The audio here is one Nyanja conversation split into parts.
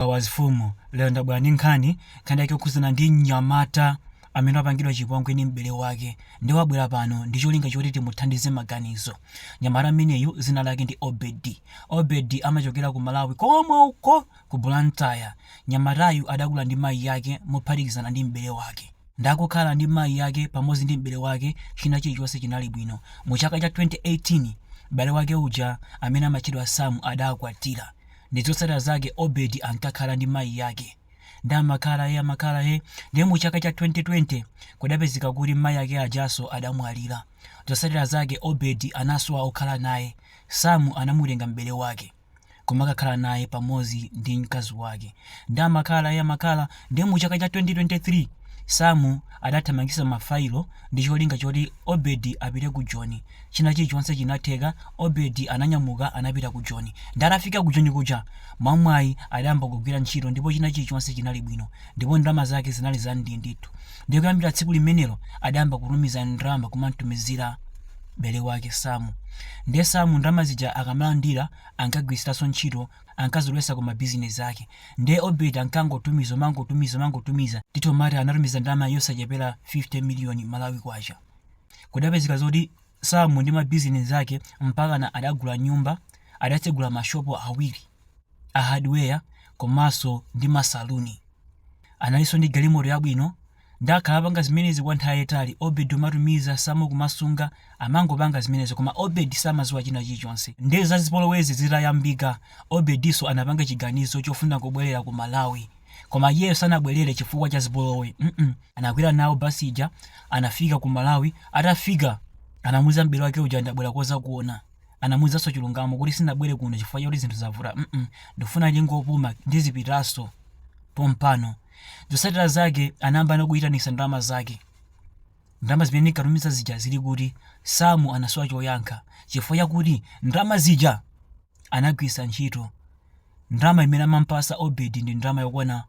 Wawa azifumu, lero ndabwera ndi nkhani, nkhani yake yokhudzana ndi mnyamata amene wapangidwa chipongwe ndi m'bale wake, nde wabwera pano ndi cholinga choti timuthandize maganizo. Mnyamata ameneyu dzina lake ndi Obedi. Obedi amachokera ku Malawi komwe uko ku Blantyre. Mnyamatayu adakula ndi mayi ake mophatikizana ndi m'bale wake. Nde akukhala ndi mayi ake pamodzi ndi m'bale wake china chilichonse chinali bwino. Mu chaka cha 2018, m'bale wake uja amene amatchedwa Sam adakwatira. ndi zotsatira zake obed ankakhala ndi mayi ake nde amakhala he amakhala he nde mu chaka cha 2020 kudapezeka kuti mayi ake ajaso adamwalira zotsatira zake obed anasowa okhala naye sam anamutenga m'bale wake kumakakhala naye pamodzi ndi mkazi wake nde amakhala he amakhala Ndiye mu chaka cha 2023, Sam adathamangitsa mafailo ndi cholinga choti Obed apite ku Joni. China chilichonse chinatheka, Obed ananyamuka anapita ku Joni. Ndiye atafika ku Joni kuja, mwamwayi adayamba kugwira ntchito ndipo china chilichonse chinali bwino. Ndipo ndalama zake zinali za ndii ndithu. Ndiye kuyambira tsiku limenelo adayamba kutumiza ndalama kumamtumizira m'bale wake Sam. Ndiye Sam ndalama zija akamalandira ankagwiritsanso ntchito ankazilowetsa ku ma business ake nde obed ankangotumiza umangotumiza umangotumiza titomati anatumiza ndalama yosachepera 50 million malawi kwacha kudapezeka zoti samu ndi ma business ake mpakana adagula nyumba adatsegula mashopo awiri a hardware komanso ndi masaluni analinso ndi galimoto yabwino Nde akhala apanga zimenezi kwa nthawi yayitali, Obed umatumiza, Sam kumasunga, amangopanga zimenezi koma Obed samaziwa china chilichonse nde za zipolowezi zitayambika Obedinso anapanga chiganizo chofuna kubwelera ku Malawi koma iyeyo sanabwelere chifukwa cha zipolowe mm anakwera nawo bus ija anafika ku Malawi atafika anamuza m'bale wake uja ndabwera kuzakuona anamuzanso chilungamo kuti sinabwere kuno chifukwa choti zinthu zavuta mm ndikufuna ndingopuma ndizipitaso pompano Zosatira zake anayambano kuyitanisa ndalama zake. Ndalama zimene ndinkatumiza zija zili kuti? Samu anasowa choyankha chifukwa chakuti ndalama zija anagwiritsa ntchito ndalama imene amampasa Obedi ndi ndalama yokwana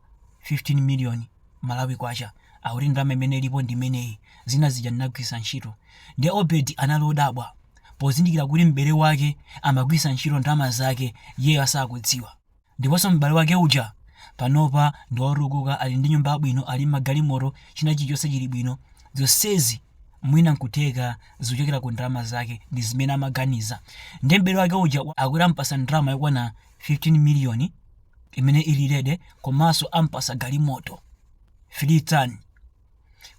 15 million Malawi kwacha. Akuti ndalama imene ilipo ndi imeneyi, zina zija ndinagwiritsa ntchito. Ndiye Obedi anali odabwa pozindikira kuti m'bale wake amagwiritsa ntchito ndalama zake iyeyo asakudziwa. Ndiponso m'bale wake uja panopa ndi wotukuka ali ndi nyumba yabwino, ali ndi magalimoto, china chilichonse chili bwino. Zonsezi mwina n'kutheka zikuchokera ku ndalama zake ndi zimene amaganiza. Ndiye m'bale wake uja akuti amupatsa ndalama yokwana 15 miliyoni imene ili ready komanso amupatsa galimoto, three ton.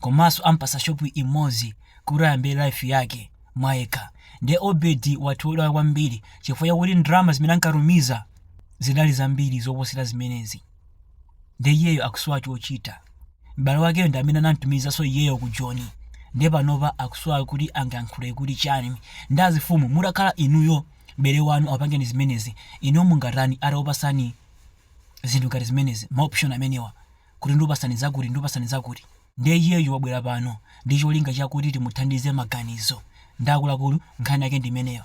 komaso ampasa shop imozi kuti ayambe life yake mwayekha nde obedi wathodwa kwambiri chifukwa chakuti ndalama zimene ankatumiza zidali zambiri zoposera zimenezi nde iyeyo akusowa chochita m'bale wakeyo ndi amene anamtumizaso iyeyo ku joni nde panopa akusowa kuti angayankhule kuti chani nde azifumu mutakhala inuyo m'bale wanu akupangani zimenezi inuyo mungatani atawapasani zinthu ngati zimenezi ma option amenewa kuti ndikupasani zakuti ndikupasani zakuti nde iyeyo wabwera pano ndi cholinga chakuti timuthandize maganizo nde akuluakulu nkhani yake ndi imeneyo.